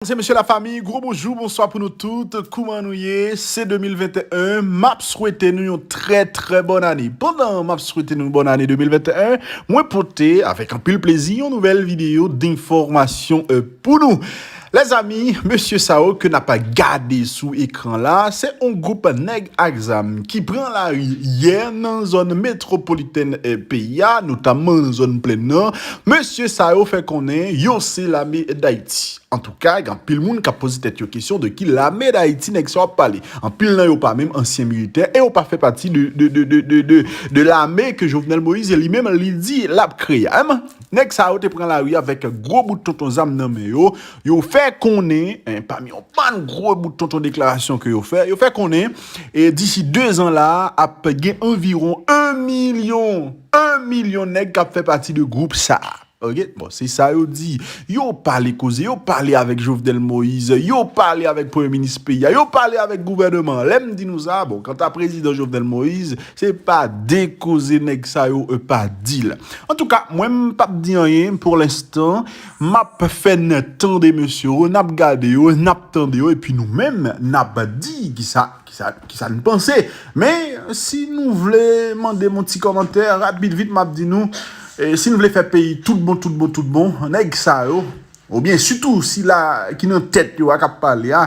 Mesdames et messieurs la famille, gwo bonjou, bonswa pou nou tout, kouman nou ye, se 2021, map swete nou yon trè trè bòn ane. Pandan map swete nou bòn ane 2021, mwen pote avèk anpil plezi yon nouvèl videyo denfòmasyon euh, pou nou. Lèzami, mesye sa yo ke nap gade sou ekran la, se yon gwoup nèg ak zam ki pran lari yè nan zòn metwopolitèn peyi a, notamman zòn plèn nan, Mesye sa yo fè konnen yo se lame Dayiti. Antouka, gen anpil moun k ap poze tèt yo kesyon de ki lame Dayiti nèg sa yo ap pale. Anpil nan yo pa menm ansyen militè e yo pa fè pati de lame ke Jovenel Moïse li menm li di l ap kreye. Alman, nèg sa yo te pran lari avèk gwo bout tonton zam nan men yo. Yo fè konnen, pami yon bann gwo bout tonton deklarasyon ke yo fè, yo fè konnen disi 2 zan la a ap gen anviwon 1 milyon. 1 milyon nèg kap fè pati de group sa a ok bon se sa yo di yo pale koze yo pale avèk Jovenel Moise yo pale avèk premye minis peyi a yo pale avèk gouvèneman an lèm di nou sa a bon kanta prezidan Jovenel Moise se pa de koze nèg sa yo pa di la antouka mwen m pap di anyen pou lenstan map fè n tande mesye yo nap gade yo nap tande yo epi nou menm nap di kisa Ki sa n panse? Men, si nou vle mande m yon ti kòmantè, rapid vit m ap di nou, si n vle fè peyi tout bon, tout bon, tout bon, nèg sa yo, oubyen sitou sila ki nan tèt yo a k ap pale a,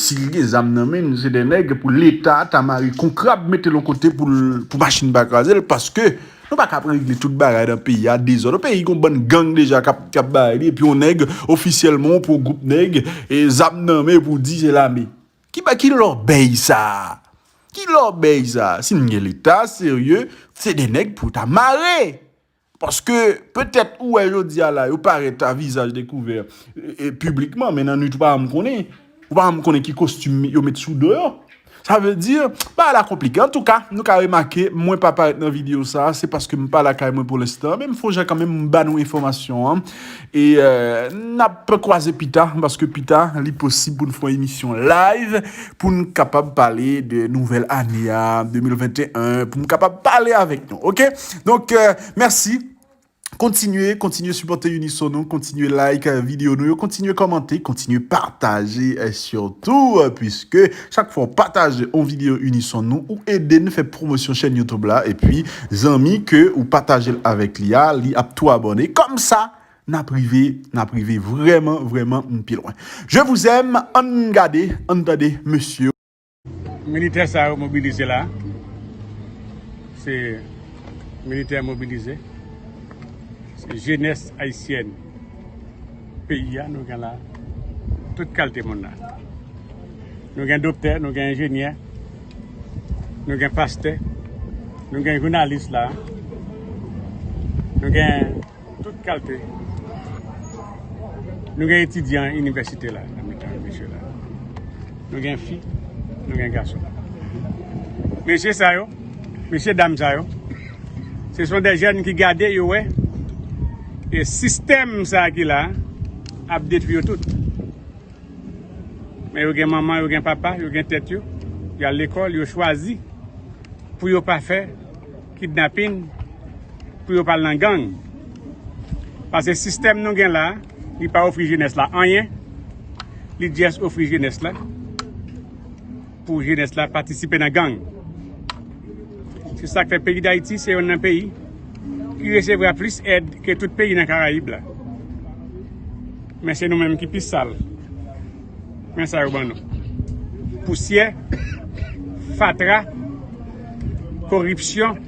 si li gen zam nan men l, se de nèg pou Leta ta mare kon krab mete l yon kote pou l, pou machin pa kraze l, paske nou pa kab regle tout bagay nan peyi a, dezòd nan peyi, gon bann gang deja k ap bay li, epi yon nèg, ofisyèlman yon pwo gwoup nèg, zam nan men pou di se lame. Ki ba ki lòbèy sa a. Ki lòbèy sa a. Si n gen leta serye, se de nèg pou yo ta mare. Paske, petèt ou wè jodi a la, yo parèt a vizaj dekouvè piblikman, men nan nwit ou pa janm konnen. Ou pa janm konnen ki kostim yo met sou do yo. Sa vle di, bagay la konplike. Antouka, nou ka remake, mwen pa parèt nan videyo sa a, se paske m pa lakay mwen pou lenstan. Men m fon jan kanmenm m ba nou enfòmasyon an. E nap kwaze pita, paske pita li posib pou n fon emisyon live pou n kapab pale de nouvèl ane a 2021 pou m kapab pale avèk nou ok donk mèsi kontinye kontinye sipòte Unisono kontinye like video nou yo kontinye kòmante kontinye pataje sitou pwiske Chak fwa w pataje on video unison nou ou ede n fè pwomosyon chèn youtube la epi zanmi ke ou pataje l avèk li a li ap tou abòne kòmsa n ap rive n ap rive vrèman vrèman m pi lwen je vous aime ann gade ann tande mesye. Militè sa yo mobilize la se militè mobilize se jenès ayisyèn. Peyi a nou gen la tout kalte moun la. Nou gen doktè, nou gen enjenyè, nou gen pastè, nou gen jounalis la. Nou gen tout kalte. Nou gen etidyan inivèsite la. Nou gen fi, nou gen gason. Mesye sa yo. Mesye dam sa yo Se son de jèn ki gade yo wè E sistèm sa ki la Ap detwi yo tout Men yo gen manman yo gen papa Yo gen tèt yo Yo al lekòl yo chwazi Pou yo pa fè kidnapin Pou yo pa al nan gang Pase sistèm nou gen la Li pa ofri jenès la anyen Li djès ofri jenès la Pou jenès la patisipe nan gang. Se sak fè peyi Dayiti se yonn nan peyi ki resevra plis èd ke tout peyi nan karayib la. Men se nou menm ki pi sal. Men sa yo ban nou. Pousyè, fatra, koripsyon,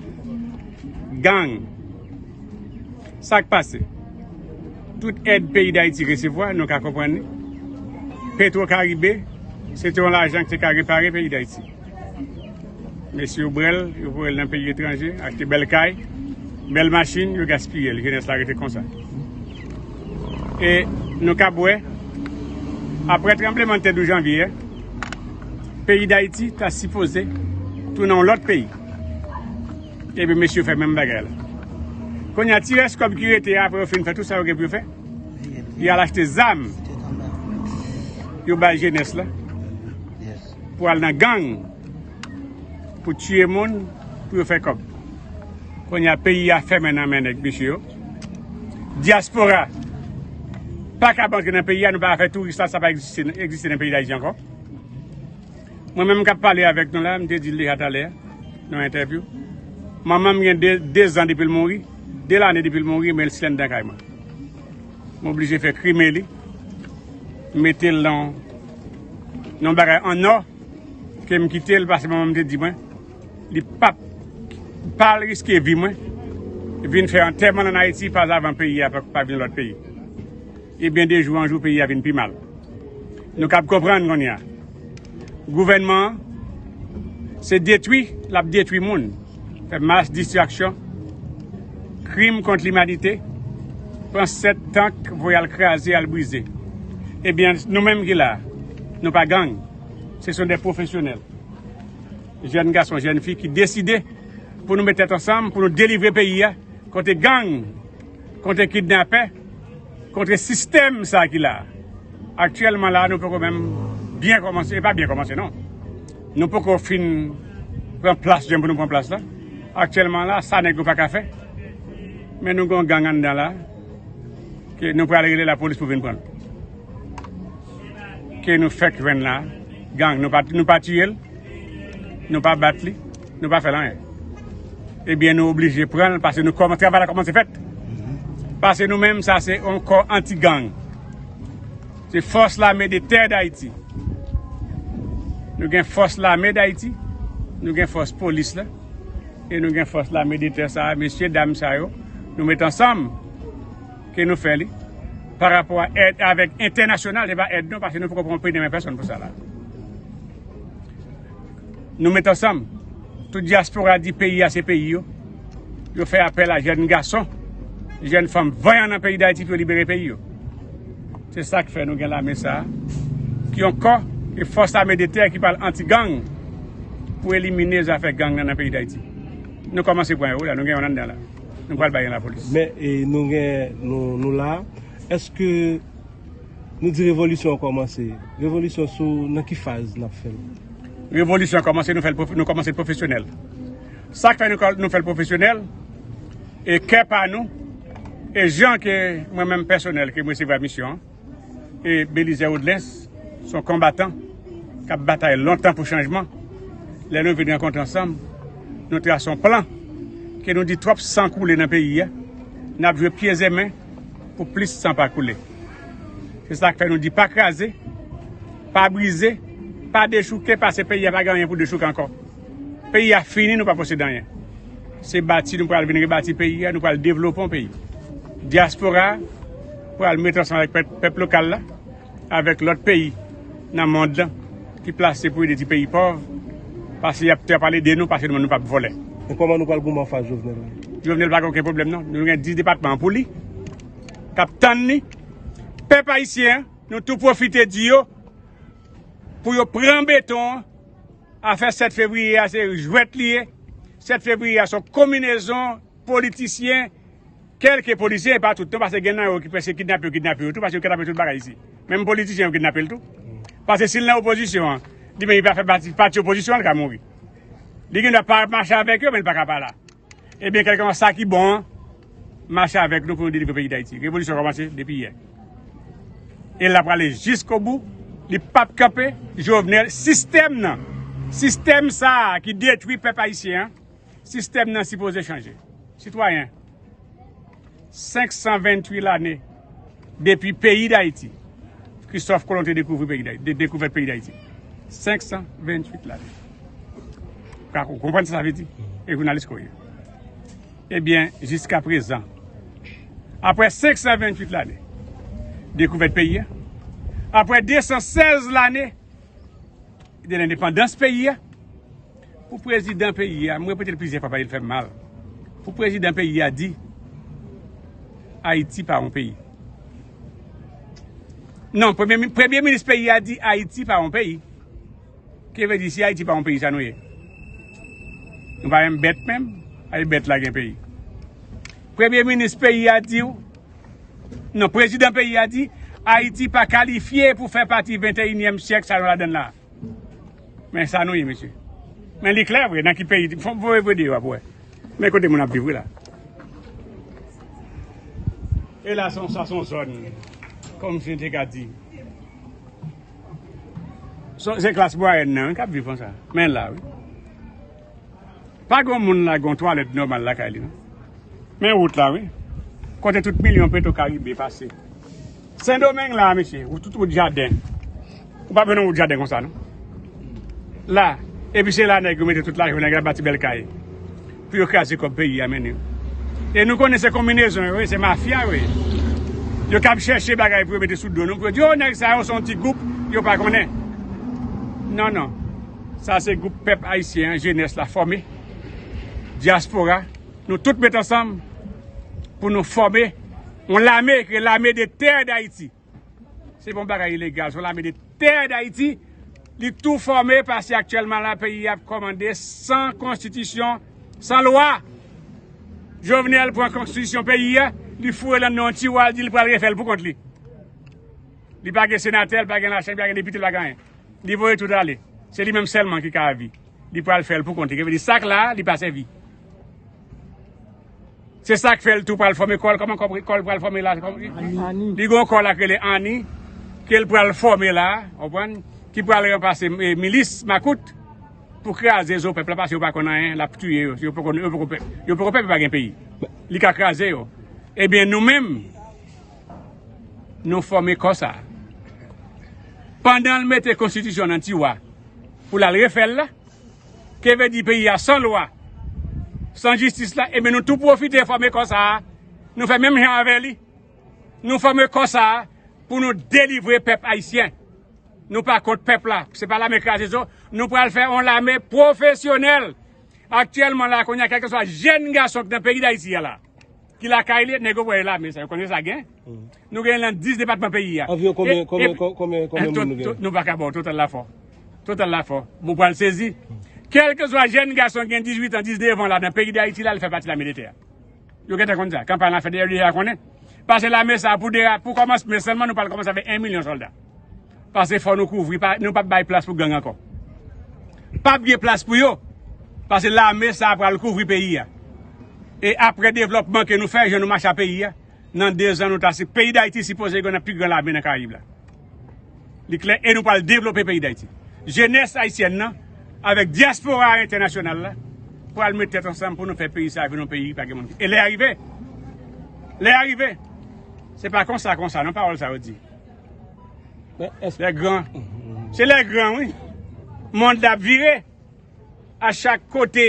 gang. Sak pase? Tout èd peyi Dayiti resevwa nou ka konprann li. Petro Caribe se te yon lajan ki te ka repare peyi Dayiti. Mesye yo brèl, yo voyel nan peyi etranje, achte bèl kay, bèl machin, yo gaspiyel. Jenès la rete konsa. E nou kab wè, apre tranbleman tè 12 janvye a, peyi Dayiti ta sipoze tounen yon lòt peyi. Epi mesye fè menm bagay la. Konnya ti rès kòb ki rete a apre yo fin fè tout sa yo gen pou yo fè, y al achte zam yo bay jenès la pou al nan gang pou tiye moun pou yo fè kòb. Konnya peyi a fèmen nan men nèg mesye yo. Dyaspora pa kab antre nan peyi a nou pa ka fè touris la sa pa egziste nan peyi Dayiti ankò. Mwen menm kap pale avèk nou la, m te di l deja talè nan yon entèvyou, manman m gen 2 zan depi l mouri, 2 lane depi l mouri men l stil anndan kay mwen. M oblije fè krime li, m mete l nan yon bagay an nò ke m kite l pase manman m te di mwen li pap pa al riske vi mwen vin fè antèman l an Ayiti pazavan peyi a pa vin lòt peyi. Ebyen de jou an jou peyi a vin pi mal. Nou kab konprann kounye a. Gouvènman an se detwi l ap detwi moun, fè mas distraksyon, krim kont limanite, pran 7 tank voye al kraze, al brize. Ebyen nou menm ki la a, nou pa gang, se son de pwofesyonèl, jèn gason, jèn fi ki deside pou nou met tèt ansanm pou nou delivre peyi a kote gang. Kontre kidnapè, kontre sistèm sa ki la. Aktyèlman la nou poko menm byen kòmanse, e pa byen kòmanse non. Nou poko fin pran plas jan pou nou pran plas la. Aktyèlman la sa nèg yo pa ka fè. Men nou gon gang anndan la ke nou pral rele la polis pou vin prann. Ke nou fèk jwenn la, gang nou pa tiyel, nou pa bat li. nou pa fè l anyen. Ebyen nou oblije pran l pase nou kòman travay la kòmanse fèt. Pase nou menm sa se yon kò anti gang. Se fòs lame de tè dayiti. Nou gen fòs lame dayiti, nou gen fòs polis la, e nou gen fòs lame de tè sa a, mesye dam sa yo, nou met ansanm ke nou fè li. Pa rapò a èd avèk entènasyonal, se pa èd nou pase nou poko pran pri de men pèsòn pou sa la. Nou met ansanm, tout dyaspora di peyi a se peyi yo. Yo fè apèl a jèn gason, jèn fanm vanyan nan peyi Dayiti pou yo libere peyi yo. Se sa k fè nou gen lame sa a, ki yon kò, yon fòs ame de tè ki pral anti-gang pou elimine zafè gang nan nan peyi Dayiti. Nou kòmanse pran yo wi la, nou gen yon anndan la. Nou pral bay yon lapolis. Men, nou gen, nou la a. Èske. Nou di revolisyon an kòmanse. Revolisyon sou nan ki faz n ap fè l? Revolisyon an kòmanse, nou fè l, nou kòmanse l pwofesyonèl. Sa k fè nou fè l pwofesyonèl, e kè pa nou, e jan ke mwen menm pèsonèl ke m resevwa misyon an, e Belizè Odlens s on konbatan k ap batay lontan pou chanjman, lè nou vin rankontre ansanm, nou trase on plan ke nou di twòp san koule nan peyi a, n ap jwe pye e men pou plis san pa koule. Se sak fè nou di pa kraze, pa brize, pa dechouke pase peyi a pa gen anyen pou dechouke ankò. Peyi a fini nou pa posede anyen. Se bati nou pral vin rebati peyi a, nou pral devlopon peyi. Dyaspora pral met ansanm avèk pèp lokal la, avèk lòt peyi nan mond lan ki plase pou ede ti peyi pòv pase y ap te ap pale de nou pase nou menm nou pap vòlè. E kòman nou pral goumen anfas Jovenel la? Jovenel pa gen oken pwoblèm non. Nou gen 10 depatman an pou li. k ap tann li. Pèp ayisyen, nou tou pwofite di yo pou yo pran beton an. Afè 7 fevriye a se jwèt li ye. 7 fevriye a se yon konminezon politisyen, kèlke politisyen, e pa tout non, pase gen nan yo ki pèske kidnape yo kidnape yo tou, pase yo kidnape tout bagay isi. Menm politisyen yo kidnape l tou. Pase si l nan opozisyon an, li menm li pa fè pati pati opozisyon an, li ka mouri. Li gen dwa pa mache avèk yo, men li pa ka pa la. Ebyen kèlkeswa sa ki bon an, mache avèk nou pou nou delivre peyi Dayiti. Revolisyon kòmanse depi yè. E l ap prale jiskobou, li p ap kanpe. Jovenel, sistèm nan, sistèm sa a ki detwi pèp ayisyen an, sistèm nan sipoze chanje. Sitwayen. 528 lane depi peyi Dayiti, Kristòf Kolon te dekouvri peyi Dayiti, te dekouvèt peyi Dayiti. 528 lane. Ka ou konprann sa sa vle di? E jounalis ko ye. Ebyen, jiska prezan, apre 528 lane, dekouvèt peyi a, apre 216 lane, de lendepandans peyi a pou prezidan peyi a m repete l plizyè fwa paske l fè m mal pou prezidan peyi a di ayiti pa yon peyi nan premye minis peyi a di ayiti pa yon peyi ki vle di si ayiti pa yon peyi sa nou ye nou pa menm bèt menm a e bèt la gen peyi premye minis peyi a di w Non prezidan peyi a di ayiti pa kalifye pou fè pati 21 nyèm syèk sa nou ladann la men sa nou ye mesye men li klè vre nan ki peyi fòk m voye videyo a pou wè men kote moun ap viv wi la e la son sa son zòn kòm si n te ka di se klas mwayèn nan wi k ap viv konsa men la wi. Pa gon moun la gon twalèt nòmal lakay li non. Men wout la wi. Kote tout milyon petro karibe pase. Sendomeng la mesye. Ou tout wout jaden. Ou pa beno wout jaden konsa non. La. Epi se la nèg yo mete tout lajan nèg yo bati bèl kay. Pou yo kraze kòb peyi a mennen. E nou konnen se konminezon yo ye. Se mafya yo ye. Yo kab chèche bagay pou yo mete sou do nou. Pou yo di yo nèg sa yo son ti goup. Yo pa konnen. Non non. Sa se group pèp ayisyen an jenès la fòme diaspora nou tout met ansanm pou nou fòme yon lame ki rele lame de tè dayiti se pa yon bagay ilegal se yon lame de tè dayiti li tou fòme paske aktyèlman la peyi ap kòmande san konstitisyon san lwa jovenel pran konstitisyon peyi a li foure nan yon tiwa li di li pral refèl pou kont li li pa gen senatè li pa gen lachanm li pa gen depite li pa gen anyen. Li voye tout ale. Se li menm sèlman ki ka avi. Li pral fè l pou kont li. Kè vè di sak la, li pa sèvi. Se sak fè l tou pral fòme kòl. Kòman kòl pral fòme la? Li gò kòl ak rele Annie. Kè l pral fòme la. Anpwen? Ki pral renpase milis makout. Pou kraze zo pèp la. Pase yo pa kon anyen. Lap touye yo. Yo poko pèp. Yo pa gen peyi. Li ka kraze yo. Ebyen nou menm. Nou fòme kò sa. Pandan l mete konstitisyon nan tiwa pou l al refè l la, ke vle di peyi a san lwa, san jistis la, enben nou tou pwofite fòme kò sa, nou fè menm jan avè li. Nou fòme kò sa pou nou delivre pèp ayisyen. Nou pa kont pèp la, se pa lame kraze zo, nou pral fè yon lame pwofesyonèl. Aktyèlman la kounye a kèlkeswa jenn gason ki nan peyi dayiti a la, Ki lakay li, nèg yo voye lame sa yo konnen sa gen. Nou gen lan 10 depatman peyi a. Anviron konbyen konbyen konbyen moun nou gen? Nou pa ka ba w total la fò. Total la fò. Bon pral sezi. Kèlke swa jèn gason ki gen 18 an, 19 an la nan peyi Dayiti la, li fè pati lame de tè a. Yo gentan konn sa. Kanpay lan fèt deyò li deja konnen. Pase lame sa pou de pou kòmansmen sèlman nou pral kòmanse avèk 1 milyon sòlda. Pase fò nou kouvri nou pap bay plas pou gang ankò. Pap gen plas pou yo pase lame sa pral kouvri peyi a. E apre devlòpman ke nou fè jan nou mache a peyi a nan 2 zan nou ta si peyi dayiti si poze gen nan pi gran lame nan karayib la. Li klè e nou pral devlope peyi dayiti. Jenès ayisyèn nan avèk dyaspora a entènasyonal la pral met tèt ansanm pou nou fè peyi sa vin yon peyi pa gen moun ki e lè a rive. Lè a rive. Se pa konsa konsa non pawòl sa yo di. Lè gran. Se lè gran wi. Mond la ap vire. A chak kote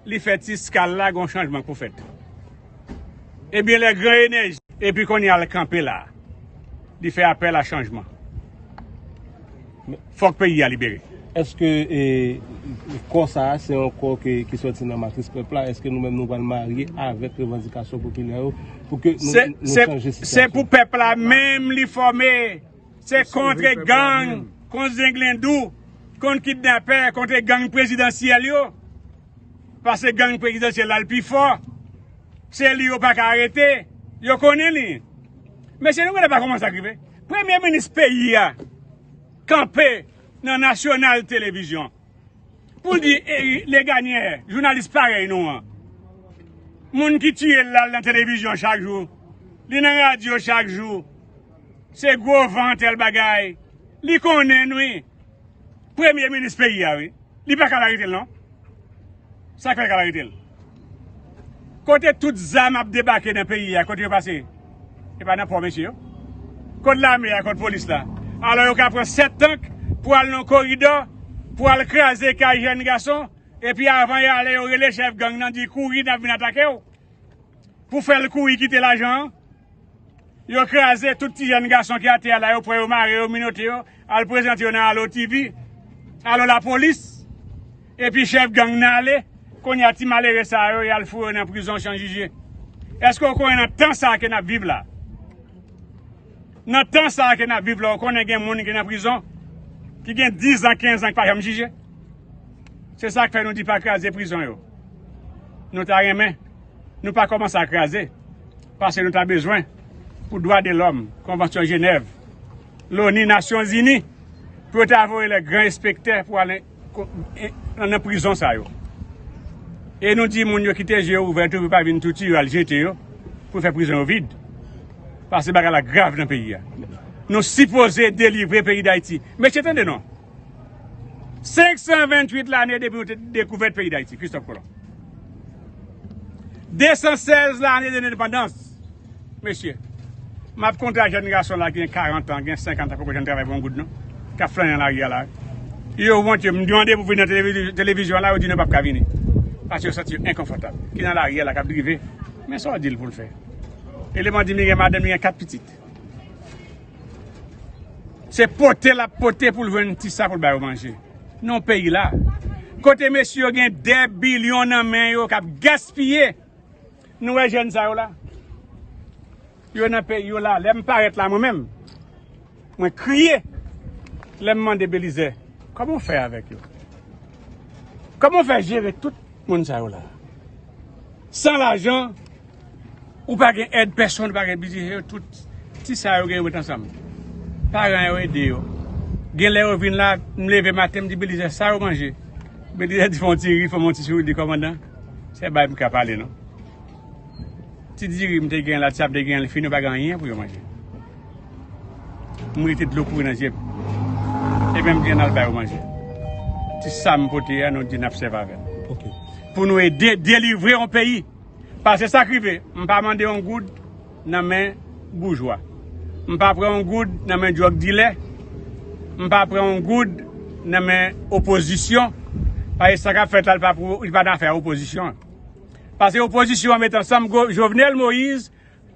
li fè ti skal la gon chanjman pou fèt. Ebyen lè gran enèji. Epi konnya l kanpe la. Li fè apèl a chanjman. Fòk peyi a libere. Eske kò sa a se yon kò ki soti nan matris pèp la? Eske nou menm nou pral marye avèk revandikasyon popilè yo pou ke nou chanje sitiyasyon an? Se pou pèp la menm li fòme. Se kontre gang, kont zenglendou, kont kidnapè, kontre gang prezidansyèl yo. Pase gang prezidansyèl la l pi fò. Se li yo pa ka arete. Yo konnen li. Mesye nou genlè pa kòmanse ak rive. Premye minis peyi a kanpe nan nasyonal televizyon pou l di Leganyè, jounalis parèy nou an, moun ki tiye l la l nan televizyon chak jou, li nan radyo chak jou, se gwo van tèl bagay, li konnen n wi. Premye minis peyi a wi. Li pa ka al arete l non. Sa k fè l k al arete l? Kote tout zam ap debake nan peyi a, kote yo pase? E pa nan pò mesye yo? Kot lame a, kot polis la? Alò yo ka pran 7 tank pou al nan yon koridò, pou al kraze kay jèn gason, epi avan y ale yo rele chèf gang nan di kouri n ap vin atake w. Pou fè l kouri kite lajan an. Yo kraze tout ti jèn gason ki atè a la yo pran yo mare yo minote yo al prezante yo nan Allo TV Allo lapolis epi chèf gang nan ale kounye a ti malere sa yo yal foure yo nan prizon chan jije èske ou konnen nan tan sa ke nap viv la nan tan sa ke nap viv la ou konnen gen moun ki nan prizon ki gen 10 an 15 an ki pa janm jije se sak fè nou di pa kraze prizon yo nou ta renmen nou pa komanse a kraze. Pase nou ta bezwen pou dwa de lòm, konvansyon jenèv, loni, nasyon zini pou yo ta voye lè gran espektè pou al nan prizon sa yo. E nou di moun yo kite je yo ouvè tou pou pa vin touti yo al jete yo pou fè prizon yo vid. Pase bagay la grav nan peyi a. Nou sipoze delivre peyi dayiti. Mesye tande non. 528 lane depi nou te dekouvèt peyi Dayiti, Kristòf Kolon. 216 lane de lendepandans. Mesye, m ap konte a jèn gason la ki gen 40 an, gen 50 an, poko janm travay pou yon goud non, k ap flanyen nan lari a la. Yo wont yo, m mande pou vin nan televizyon la, yo di nou pap ka vini. Paske yo santi yo enkonfòtab. Ki nan lari a la, k ap drive. Men sa w di l pou l fè. Eleman di m li gen madanm, li gen 4 pitit. Se pote lap pote poul jwenn ti sa poul ba yo manje nan peyi la. Kote mesye yo gen 2 bilyon nan men yo kap gaspiye. Nou wè jèn sa yo la. Yo nan peyi yo la. Lèm parèt la mwen menm. Mwen kriye. Lèm mande Belize. Koman ou fè avèk yo? Koman ou fè jere tout moun sa yo la? San lajan. Ou pa gen èd pèsonn, ou pa gen bgy yo tout ti sa yo gen yo met ansanm. Paran yo ede yo. Genlè yo vin la, m leve maten m di Belizè sa yo manje? Belizè di fè yon ti ri, fè m yon ti souri, li di kòmandan, se bay m ka pale non. Ti diri m te gen la, ti sa m te gen li fini yo pa gen anyen pou yo manje. M rete dlo kouri nan zye m. Epi m di an n al ba yo manje. Ti sa m pote a nou di n ap sèvi avè l. Pou nou ede delivre yon peyi. Pase sak rive m pa mande yon goud nan men boujwa m pa pran yon goud nan men drug dilè m pa pran yon goud nan men opozisyon pase sa kap fèt la li pa nan afè opozisyon pase opozisyon an met ansanm Jovenel Moïse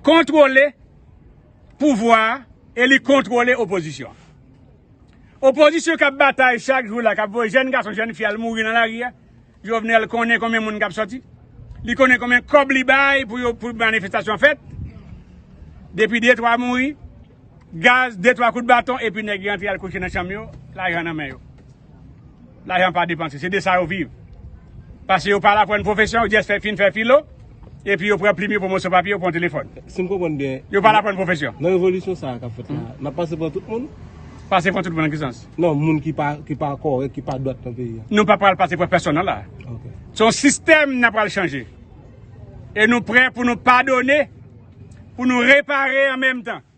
kontwole pouvwa e li kontwole opozisyon opozisyon kap batay chak jou la kap voye jèn gason jèn fi al mouri nan lari a. Jovenel konnen konbyen moun kap soti? Li konnen konbyen kob li bay pou yo pou manifestasyon fèt? Depi de twa mouri, gaz, de twa kout baton epi nèg rantre al kouche nan chanm yo, lajan nan men yo. Lajan pa depanse, se de sa yo viv. Pase yo pa la pou yon pwofesyon, yo jès fè fin fè filo. Epi yo pran plim yo pran moso papye yo pran yon telefòn. Si m konprann byen. Yo pa la pran pwofesyon. Nan revolisyon sa a k ap fèt la, n ap pase pran tout moun? Pase pran tout moun nan ki sans? Nan moun ki pa kòrèk, ki pa dwat nan peyi a. Nou pa pral pase pran pèsonn nan la a. Ok. Se yon sistèm n ap pral chanje. E nou prè pou nou padone, pou nou repare an menm tan.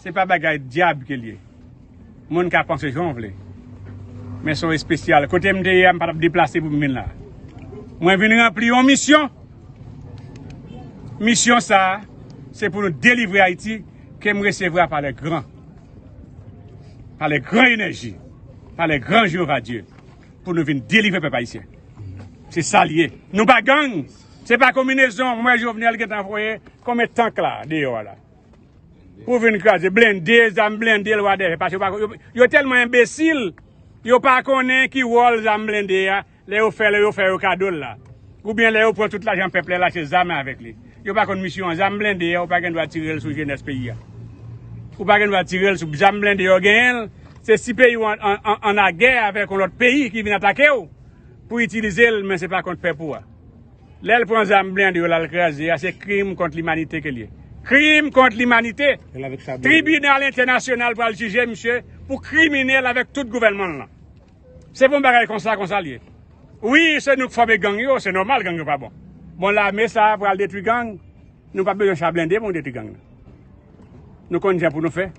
Se pa bagay dyab ke l ye. Moun ka panse jan w vle. Men se yon espesyal. Kote m te ye a, m pa t ap deplase pou m vin la. Mwen vin ranpli yon misyon. Misyon sa a, se pou nou delivre Ayiti ke m resevwa pa lè gran. Pa lè gran enèji. Pa lè gran Jewova Dye. Pou nou vin delivre pèp Ayisyen. Se sa l ye. Nou pa gang. Se pa konminezon. M wè Jovenel gen tan voye konbyen tank la deyò a la. Pou vin kraze blende, zam blende lwa dèyè. Pase yo tèlman enbesil, yo pa konnen ki wòl zam blende a, lè yo fè, lè yo fè yo kado l la. Ou byen lè yo pran tout lajan pèp lè lache zam avèk li. Yo pa konn misyon an. Zam blende a, ou pa gen dwa tire l sou jenès peyi a. Ou pa gen dwa tire l sou zam blende yo genyen l. Se si peyi ou an lagè avèk yon lòt peyi ki vin atake ou, pou itilize l, men se pa kont pèp ou a. Lèl pran zam blende yo lal kraze a se krim kont limanite kel ye. Krim kont limanite! Tribinal entènasyonal pral jije misye pou kriminèl avèk tout gouvènmanl lan. Se pou yon bagay konsa konsal ye. Wi se nou k fòme gang yo, se nòmal gang yo pa bon. Bon lame sa pral detwi gang, nou pap bezwen cha blende pou nou detwi gang nan. Nou konn jan pou nou fè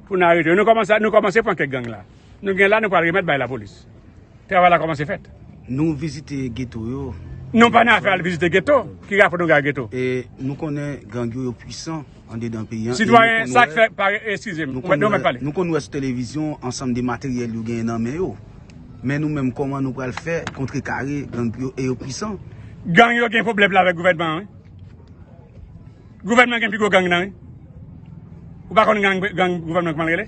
pou nou arete yo. Nou kòmanse pran kèk gang la. Nou gen la nou pral remèt bay la polis. Travay la komanse fèt. Nou vizite geto yo. Nou pa nan afè al vizite geto. Ki rapò nou gen ak geto? E nou konnen gang yo yo pwisan andedan peyi an. Sitwayen sak fè pare eskize m. Mwen mèt pale. Nou konn wè sou televizyon ansanm de materyèl yo genyen nan men yo. Men nou menm koman nou pral fè kontre kare gang yo e yo pwisan. Gang yo gen pwoblèm la avèk gouvènman an wi. Gouvènman gen pi gwo gang nan wi. Ou pa konn gang gang gouvènman kman l rele?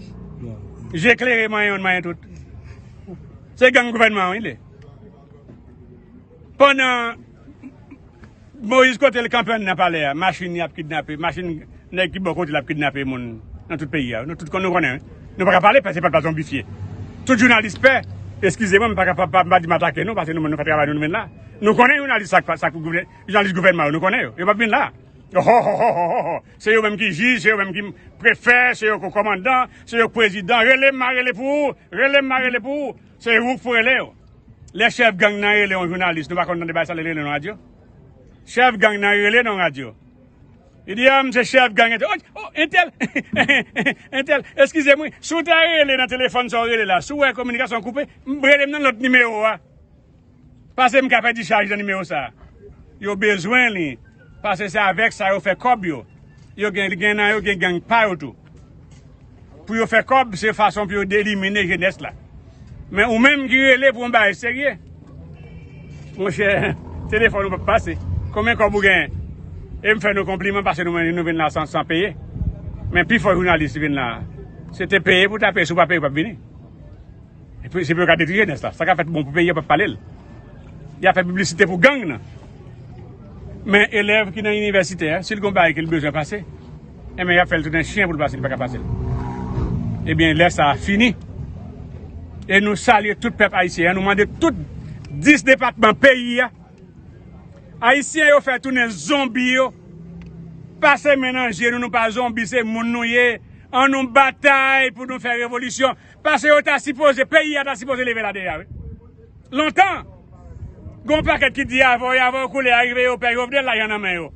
Je klere manyen youn manyen tout. Se gang gouvènman wi li. Pandan Moise kote l kanpe anndan palè a, machin li ap kidnape, machin nèg ki bò kote l ap kidnape moun nan tout peyi a. Nou tout konnen wi. Nou pa ka pale paske se pa l pa zonbifye. Tout jounalis pè, eskize mwen m pa ka m pa di m atake nou paske nou menm nou fè travay nou nou menm la. Nou konnen jounalis sa k pa sa k pou gouvènman. Jounalis gouvènman yo nou konnen yo. Yo pap vin la. Ohohohohoho. Se yo menm ki jij, se yo menm ki prefè, se yo ko komandan, se yo k prezidan. Rele m ma rele pou ou. Rele m ma rele pou ou. Se ou k pou rele yo. Lè chèf gang nan rele yon jounalis, nou pa konn tande bagay sa lè li rele nan radyo. Chèf gang nan rele nan radyo. Li di a m se chèf gang entèl. Oj! O! Entèl! Entèl! Eskize m wi. Si w ta rele nan telefòn sa w rele la, si w wè kominikasyon an koupe, rele m nan lòt nimewo a. Pase m ka pedi chaj nan nimero sa. Yo bezwen li pase se avek sa yo fe kob yo. Yo gen gen nan yo gen gang pa yo tou. Pou yo fe kob se fason pou yo delimine jenes la. Men ou menm ki rele pou yon bagay serye. Mon che telefon ou pap pase. Konbyen kob ou gen? E m fe nou konpliman pase nou men nou vin la san san peye. Men pi fo jounalis ki vin la se te peye pou ta peye si w pa peye ou pap vini. Se pou yo ka detri jenès la. Sa ka fèt bon pou peyi yo pap pale l. Ya fè piblisite pou gang nan. Men elèv ki nan inivèsitè a, si l gen yon bagay ke l bezwen pase, enben ya fè l tounen chyen pou l pase, li pa ka pase l. Ebyen lè sa a fini. E nou salye tout pèp ayisyen an, nou mande tout 10 depatman peyi a. Ayisyen yo fè tounen zonbi yo. Pase men nan je nou, nou pa zonbi se moun nou ye. An nou batay pou nou fè revolisyon. Pase yo ta sipoze, peyi a ta sipoze leve la deja wi. Lontan. Gen yon pakèt ki di avè yo, avè yo koule a rive yo pè Jovenel lajan nan men yo.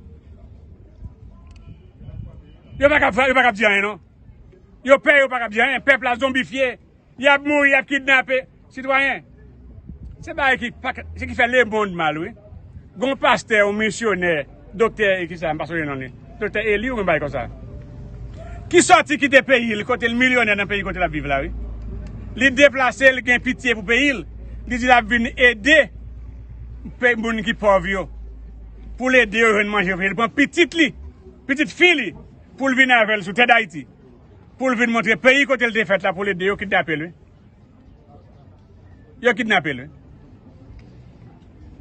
Yo pa kab, yo pa kab di anyen non. Yo pè yo pa kab di anyen, pèp la zonbifye, yap mouri, yap kidnape, sitwayen. Se bagay ki pa se ki fè le monde mal wi. Gen yon pastè, yon misyonè, doktè e kisa m pa sonje non li. Doktè Eli ou yon bagay konsa. Ki sòti kite peyi l kote l milyonè nan peyi kote l ap viv la wi. Li deplase li gen pitye pou peyi l, li di l ap vin ede pè moun ki pòv yo. Pou l ede yo jwenn manje yo fini li pran pitit li, pitit fi li pou l vin avè l sou tè dayiti. Pou l vin montre peyi kote l te fèt la pou l ede yo kidnape l wi. Yo kidnape l wi.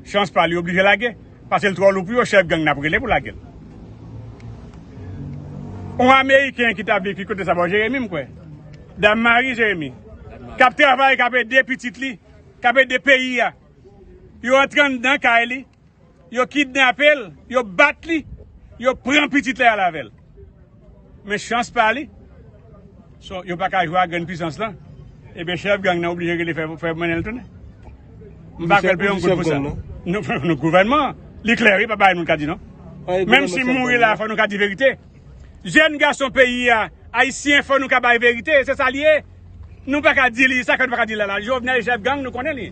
Chans pa li oblije lage. Pase l tro lou pou yo chef gang nap rele pou lage l. On ameriken ki ta vle ki kote sa bo Jeremi m kwe. Dam mari Jeremi. Kap travay kap ede pitit li. Kap ede peyi a. Yo antre andan kay li. yo kidnape l, yo bat li, yo pran pitit li al avè l. Men chans pa li, yo pa ka jwe ak grenn pisans lan, ebyen chèf gang nan oblije rele fè mennen l tounen. M pa kwè l peye yon goud pou sa. Nou gouvènman an, li klè wi pa bay moun ka di non. Menm si m mouri la fò nou ka di verite. Jèn gason peyi a, ayisyen fò nou ka bay verite, se sa li ye. Nou pa ka di li sa ke nou pa ka di li la. Jovenel chèf gang nou konnen li.